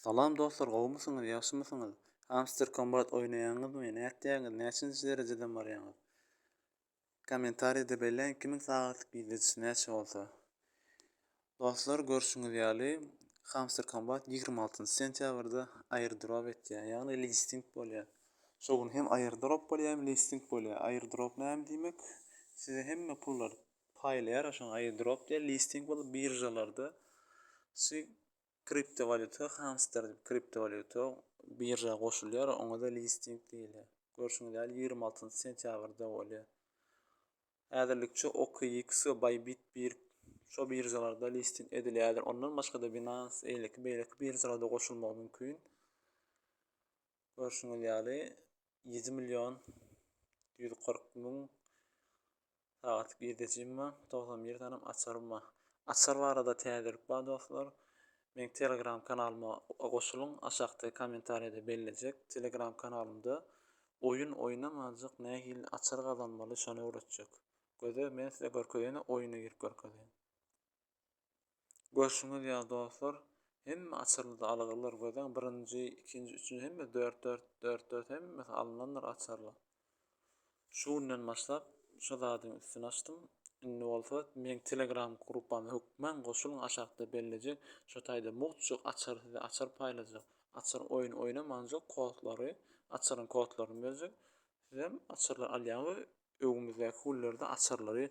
Salam dostlar gowmysyňyz ýagşymysyňyz hamster kombat oýnaýaňyzmy nätýäňiz näçinji derejeden barýaňyz kommentarýada belläň kimiň sagatlyk girdejisi näçe bolsa Dostlar görşüňiz ýaly hamster kombat ýigrimi altynjy sentýabrda airdrop etýär ýagny listing bolýar şo gün hem airdrop bolýar hem listing bolýar airdrop näme diýmek size hemme pullar paýlaýar şoňa airdrop diýer listing bolup biržalarda şu Kriptowalýuta hamster diýip kriptowalýuta birža goşulýar, oňa-da listing diýilýär. Görşüňiz ýaly ýigrimi altynjy sentýabrda bolýar. Häzirlikçe OKX we Bybit bir şo biržalarda listing edilýärler. Ondan başga-da Binance, eýleki beýleki biržalarda goşulmagy mümkin. Görşüňiz ýaly ýedi million ýüz kyrk müň Sagat girdejim bar togsan bir sanem açarym bar açar barada täzelik bar dostlar meň telegram kanalyma goşulyň aşakda komentarýada bellejek telegram kanalymda oýun oýnamajak nähili açar gazanmaly şony öwretjek göze men size görkezene oýuna girip görkezýän. Görşüňiz ýaly dostlar, hemme açarlarda algylar gözäň birinji, ikinji, üçünji hemme dört-dört, dört-dört hemmesi alynandyr açarlar. Şu günden başlap şu zadyň üstüni açdym. Indi bolsa meň Telegram gruppama hökman goşulyň aşakda bellejek. Şu taýda mugt açar size açar paýlajak. Açar oýun oýnamanjak kodlary, açaryň kodlaryny berjek. Sizem açarlar alýan we öňümizdäki günlerde açarlary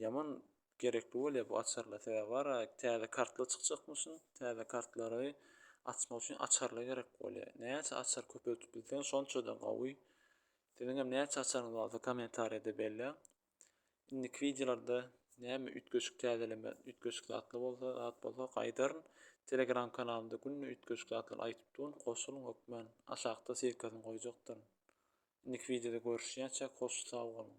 ýaman gerekli bolýar bu açarlar. Sebäbi ara täze kartlar çykjakmyşyn. Täze kartlary açmak üçin açarlar gerek bolýar. Näçe açar köpeltip bilseň şonça-da gowy. Siziň hem näçe açaryňyz barsa kommentariýada belläň. Indiki wideolarda näme üýtgeşik täzeleme, üýtgeşik zatlar bolsa, zat bolsa gaýdaryn. Telegram kanalymda günde üýtgeşik zatlar aýdyp durun. Goşulyň hökmän. Aşakda ssilkasyny goýjakdyryn. Indiki wideoda görüşýänçäk hoş sag boluň.